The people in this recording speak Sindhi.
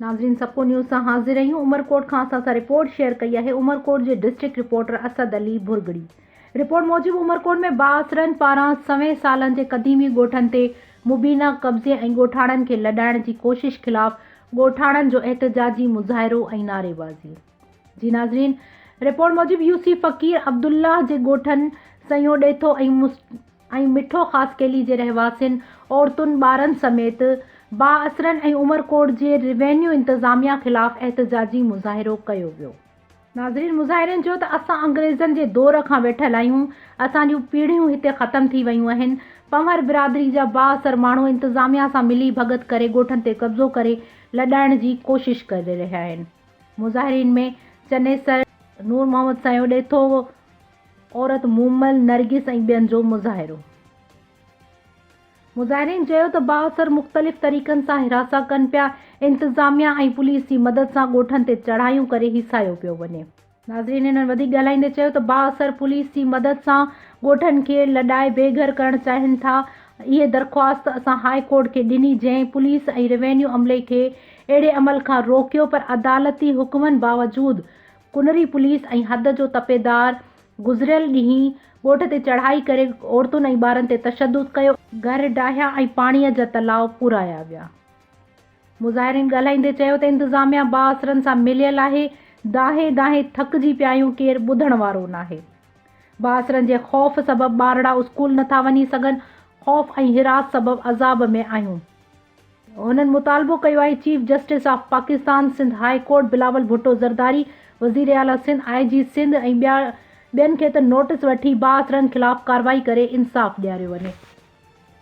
ناظرين سپو نيوز سان حاضر آهيون عمرڪوٽ کان اسان سان رپورٽ شيئر ڪئي آهي عمرڪوٽ جي district reporter Asad Ali Bhurgri report موجب عمرڪوٽ ۾ بااثرن پاران سوين سالن جي قديمي ڳوٺن تي مبينا قبضي ۽ ڳوٺاڻن کي لڏائڻ جي ڪوشش خلاف ڳوٺاڻن جو احتجاجي مظاهرو ۽ نعريبازي. جي ناظرين رپورٽ موجب يوسي فقير عبدالله جي ڳوٺن سنئون ڏيٿو ۽ مٺو خاصخيلي جي رهواسين عورتن ٻارن سميت بااثرن ۽ عمرڪوٽ جي روينيو انتظاميا خلاف احتجاجي مظاهرو ڪيو ويو. ناظرين مظاهرين چيو ته اسان انگريزن جي دور کان ويٺل آهيون اسان جون پيڙهيون هتي ختم ٿي ويون اهن پنهور برادري جا بااثر ماڻهو انتظاميا سان ملي ڀڳت ڪري ڳوٺن تي قبضو ڪري لڏائڻ جي ڪوشش ڪري رهيا آهن. مظاهرين ۾ چنيسر، نور محمد سنئون، ڏيٿو عورت مومل، نرگس ۽ ٻين جو مظاهرو. مظاهرين چيو ته بااثر مختلف طريقن سان هراسان ڪن پيا، انتظاميا ۽ پوليس جي مدد سان ڳوٺن تي چڙهايون ڪري هيسايو پيو وڃي. ناظرين هنن وڌيڪ ڳالهائيندي چيو ته بااثر پوليس جي مدد سان ڳوٺن کي لڏائي بي گهر ڪرڻ چاهين ٿا، اهي درخواست اسان هاء ڪورٽ کي ڏني جنهن پوليس ۽ روينيو عملي کي اهڙي عمل کان روڪيو پر عدالتي حڪمن باوجود ڪنري پوليس ۽ حد جو تپيدار گذريل ڏينهن ڳوٺ تي چڙهائي ڪري عورتن ۽ ٻارن تي تشدد ڪيو، گهر ڊاهيا ۽ پاڻي جا تلاء پورايا ويا، مظاهرين ڳالهائيندي چيو ته انتظاميا بااثرن سان مليل آهي، دانهين دانهين ٿڪجي پيا آهيون ڪير ٻڌڻ وارو ناهي، بااثرن جي خوف سبب ٻارڙا اسڪول نٿا وڃي سگهن، خوف ۽ حراس سبب عذاب ۾ آهيون. هنن مطالبو ڪيو آهي chief justice of Pakistan Sindh high court Bilawal Bhutto Zardari, وزير اعليٰ سنڌ، آء جي سنڌ ۽ ٻيا ٻين کي ته نوٽس وٺي بااثرن خلاف ڪارروائي ڪري انصاف ڏياريو وڃي.